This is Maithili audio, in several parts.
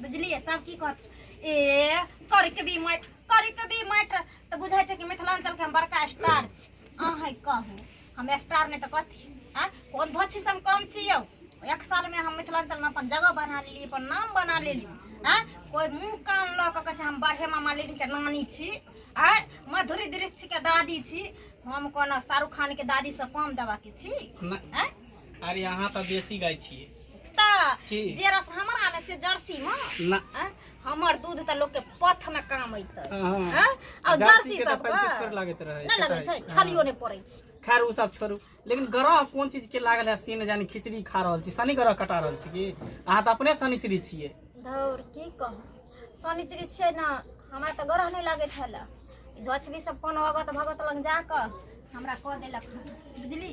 बुझलियै सब की कहत ए करिक भी मठ करिक भी मठ तऽ बुझै छै कि मिथिलाञ्चलके हम बड़का स्टार छी अहाँ कहू हम स्टार नहि तऽ कथी आ कोन धोछी से हम कम छी यौ एक सालमे हम मिथिलाञ्चलमे अपन जगह बना लेली अपन नाम बना लेली आ कोइ मुँह कान लऽ कऽ कहै छै हम बड़े मामा लेडीके नानी छी आ मधुरी दृष्टिके दादी छी हम कोनो शाहरुख खानके दादीसँ कम देबाके छी नहि। आँय? अरे अहाँ तऽ बेसी गाय छियै तऽ की? जे रस हमरा में से जर्सी में ना आँ, हमर दूध तऽ लोग के पथ में काम अइतै हाँ। आँ, और जर्सी जर्सी के तऽ सब पंचे छोड़ लागैत रहै नहि लगै छै छलियो नहि पड़ै छै खैर उ सब छोड़ू लेकिन ग्रह कोन चीज के लागल है से ने जानी खिचड़ी खा रहल छी शनि ग्रह कटा रहल छी की अहाँ तऽ अपने शनिचरी छियै धौर की कहू शनिचरी छियै ने हमरा तऽ ग्रह नहि लागै छल धोछबी सब कोनो अगत भगत लग जाकऽ हमरा कऽ देलक बुझली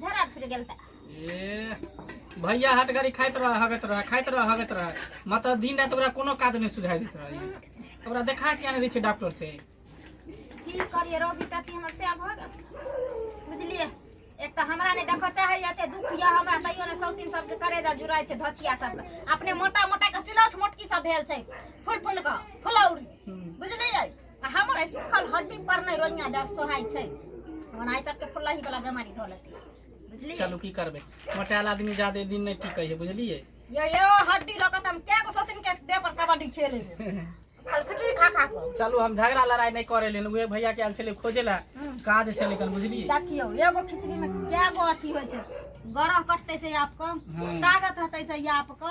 झरा फिर गेल त ए भैया हट गाड़ी खाइत रह हगत रह खाइत रह हगत रह मतलब दिन रात ओकरा कोनो काज नहीं सुझाई देत रह ओकरा देखा के आने दै छै डॉक्टर से की करिए रोगी टट्टी हमर से भऽ गेल बुझलिए एक तऽ हमरा नहि देखऽ चाहैए एते दुख यऽ हमरा तैयो ने सौतीन सबके करेजा जुड़ाइ छै धछिया सबके अपने मोटा मोटा के सिलौट मोटकी सब भेल छै फुल फुल कऽ फुलौरी बुझलियै हमर ऐ सुखल हड्डी पर नै रोइया दा सोहाय छै हमर आइ तक के फुल्लाही वाला बेमारी धो लेते बुझलिए चलू की करबे मोटाल आदमी जादे दिन नै टिकै है बुझलिए यो यो हड्डी लऽ कऽ हम के गो सतिन के देह पर कबड्डी खेले खाली खिचड़ी खा खा के चलू हम झगड़ा लड़ाई नै करे लेन उहे भैया के आल छले खोजे ला हम्म। काज छले कन बुझलिए देखियो एगो खिचड़ी में के गो अथी होय छै गरह कटते से आपको हाँ। ताकत हते से आपको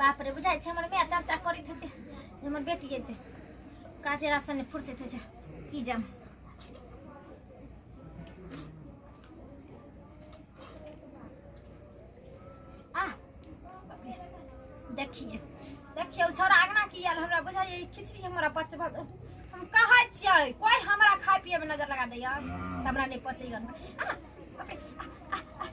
बाप रे बुझाइ छै हमर माय चर्चा करैत हेतै जे हमर बेटी एतै काजे रातसँ नहि फुर्सैत होइ छै की जाम आह, बाप रे, देखिए देखिए ओ छौड़ा अगना की आयल हमरा बुझाइए ई खिचड़ी हमरा पचबऽ दे। हम कहै छियै कोइ हमरा खाय पियैमे नजर लगा दैए तऽ हमरा नहि पचैए आह, बाप रे, आह, आह, आह,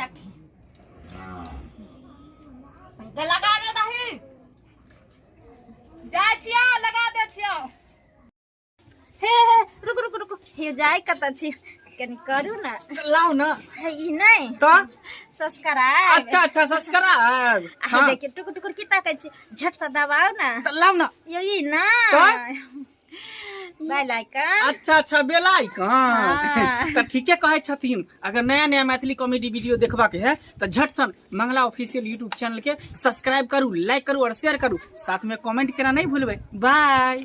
দেখি लगा दे दही जाय छिया लगा दे छिया हे हे रुक रुक रुक हे जाय कत छी कनी करू ना लाओ ना हे ई नहीं तो सब्सक्राइब अच्छा अच्छा सब्सक्राइब हे देखिए टुकुर टुकुर की ताकै छी झट से दबाओ ना तो लाओ ना ये ई ना बेल आइकन अच्छा अच्छा बेल आइकन हाँ। तो ठीके कहे छथिन अगर नया नया मैथिली कॉमेडी वीडियो देखबा के है तो झट सन मंगला ऑफिशियल यूट्यूब चैनल के सब्सक्राइब करू लाइक करू और शेयर करू साथ में कमेंट करना नहीं भूलबे बाय